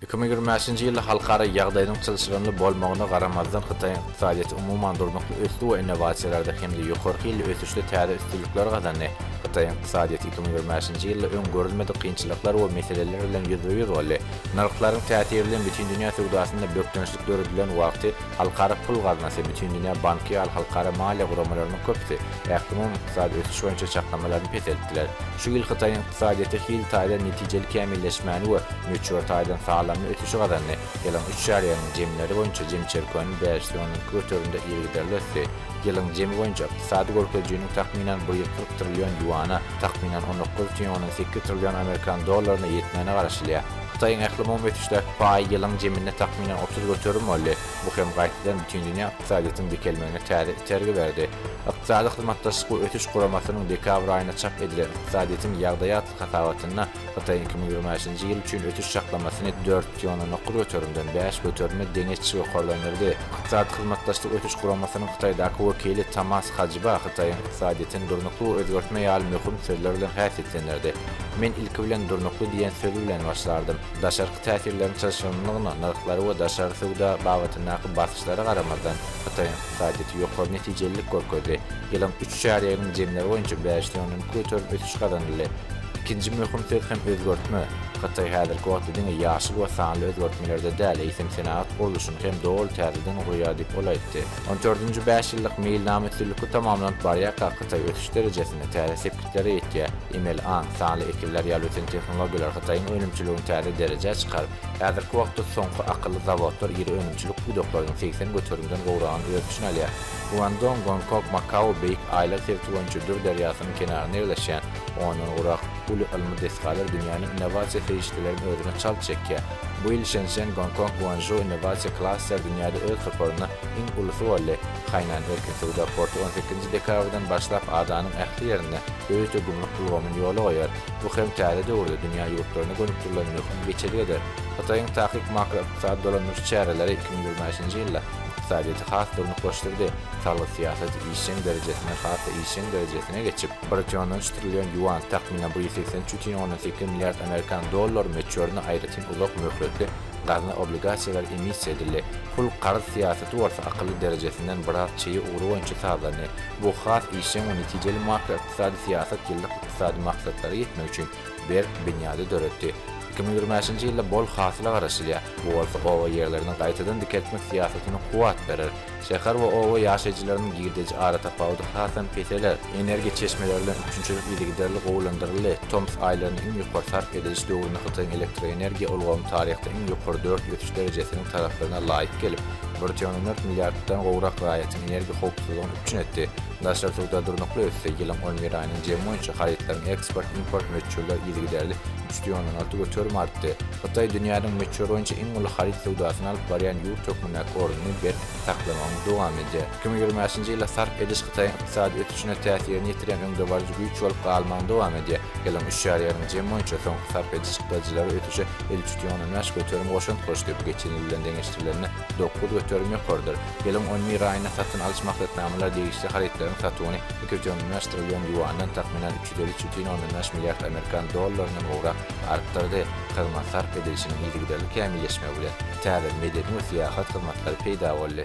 Iki müň ýigrimi bäşinji ýylda halkara ýagdaýynyň çylşyrymly bolmagyna garamazdan, hytaýyň ykdysadyýeti umuman durnukly ösdi we innowasiýalarda hem-de ýokary hilli ösüşde täze üstünlikler gazandy. Hytaýyň ykdysadyýeti iki müň ýigrimi bäşinji ýylda öň görülmedik kynçylyklar we meseleler bilen ýüzbe-ýüz boldy. Nyrhlaryň täsiri bilen bütindünýä söwdasynda bökdençlik döredilen wagty Halkara pul gaznasy, Bütindünýä banky ýaly halkara maliýe guramalarynyň köpüsi ählumumy ykdysady ösüş boýunça çaklamalaryny peseltdiler. Şu ýyl Hytaýyň. Ykdysadyýeti hil taýdan netijeli kämilleşmäni we möçber taýdan sazlanma ösüşi gazandy. Ýylyň üç çärýeginiň jemleri boýunça jem çirkewiniň bäş ýüz ondan iki göterimde yzygiderli ösdi. Ýylyň jemi boýunça ykdysady görkezijiniň takmynan bir ýüz kyrk trillion ýuana, takmynan on dokuz butyn ondan sekiz trillion amerikan dollaryna ýetmegine garaşylýar. Hytaýyň ählumumy ösüşdäki paýy ýylyň jeminde takmynan otuz göterim boldy, bu hem gaýtadan Bütindünýä ykdysadyýetiň dikelmegine täze itergi berdi. Ykdysady Hyzmatdaşlyk we Ösüş Guramasynyň dekabr aýynda çap edilen Ykdysadyýetiň ýagdaýy atly hasabatynda Hytaýyň iki müň ýigrimi bäşinji ýyl üçin ösüş çaklamasyny dört ýüz on dokuz göterimden bäş göterime deňeç ýokarlandyrdy. Ykdysady Hyzmatdaşlyk we Ösüş Guramasynyň Hytaýdaky wekili Tomas Hajba Hytaýyň ykdysadyýetini durnukly we özgertme ýaly möhüm sözler bilen häsiýetlendirdi. Men ilki bilen durnukly diýen söz bilen başlardym. Daşarky täsirleriň çylşyrymlygyna, nyrhlary we daşary söwda babatyndaky basyş Çykdajylara garamazdan, Hytaýyň ykdysadyýeti ýokary netijelilik görkezdi. Ýylyň üç çärýeginiň jemleri boýunça bäş ýonuň göterim ösüş gazanyldy. Ikinji möhüm söz hem özgertme. Hytaý häzirki wagtda diňe ýaşyl we sanly özgertmelerde däl, eýsem senagat gurluşyny hem doly täzeden gurýar diýip ol aýtdy. On dördünji bäşýyllyk meýilnama üstünlikli tamamlanyp barýarka, Hytaý ösüş derejesinde täze sepgitlere ýetýär. Emeli aň, sanly ekinler ýaly ösen tehnologiýalar Hytaýyň önümçiligini täze derejä çykaryp, Häzirki wagtda soňky akylly zawodlar iri önümçilik pudaklarynyň segsen göterimden gowragyny öz içine alýar. Guandong, Gonkog, Makao beýik aýlag sebiti boýunça Dür derýasynyň kenarynda ýerleşýän ondan gurak, uly ylmy desgalar dünýäniň innowasiýa serişdelerini özüne çalt çekýär. Bu ýyl Şenşen, Gonkong, Guanzhou innowasiýa klaster dünýäde öz toparynda iň ulusy boldy. Hainan erkin söwda porty on sekizinji dekabrdan başlap adanyň ähli ýerinde ÖÝT gümrük ulgamyny ýola goýar. Bu hem täze döwürde dünýä ýurtlaryna gönükdirilen möhüm geçelge der. Hytaýyň takyk makroykdysady dolandyryş çäreleri iki müň ýigrimi bäşinji ýylda ykdysadyýeti has durnuklaşdyrdy, salgyt syýasaty işjeň derejesine has-da işjeň derejesine geçip, bir tüýn on üç trillion ýuan, takmynan, bir ýüz segsen üç tüýn ondan sekiz milliard amerikan dollary möçberinde aýratyn uzak möhletli gazna obligasiýalary emissiýa edildi. Pul-karz syýasaty bolsa akylly derejesinden biraz çeýe ugry boýunça sazlandy. Bu has işjeň we netijeli makroykdysady syýasat ýyllyk ykdysady maksatlara ýetmek üçin berk binýady döretdi. Iki müň ýigrimi bäşinji ýylda bol hasyla garaşylýar, bu bolsa oba ýerlerini gaýtadan dikeltmek syýasatyna kuwwat berer. Şäher we oba ýaşaýjylarynyň girdeji aratapawudy hasam peseler. Energiýa çeşmeleri bilen üpjünçilik yzygiderli gowulandyryldy, tomus aýlarynda iň ýokary sarp ediliş döwründe Hytaýyň elektroenergiýa ulgamy taryhda iň ýokary dört ösüş derejesiniň taraplygyna laýyk gelip, bir trillion dört milliarddan gowrak raýatyň energiýa howpsuzlygyny üpjün etdi. Daşary söwda durnukly ösdi, ýylyň on bir aýynyň jemi boýunça harytlaryň eksport-import möçberleri yzygiderli üç döwün on alty göterim artdy. Hytaý dünýäniň möçber boýunça iň uly haryt söwdasyny alyp barýan ýurt hökmündäki ornuny berk saklamagyny dowam edýär. Iki müň ýigrimi bäşinji ýylda sarp ediş Hytaýyň ykdysady ösüşine täsirini ýetirýän öňdebaryjy güýç bolup galmagyny dowam edýär. Ýylyň üç ýarýarynyň jemi boýunça soňky sarp ediş çykdajylary ösüşe elli üç ýüz ýigrimi bäş göterim goşant goşdy, bu geçen ýyl bilen deňeşdirilende, Dokuz göterim ýokarydyr. Ýylyň on bir aýynda satyn alyş maksatnamalar degişli harytlaryň satuwyny ikioňlynlaşdyrylýan ýuandan, takmynan, üç ýüz elli üç bütin ondan bäş milliard amerikan dollaryndan gowrak artdyrdy. Hyzmat sarp edilişiniň yzygiderli kämilleşmegi bilen täze medeni we syýahat hyzmatlary peýda boldy.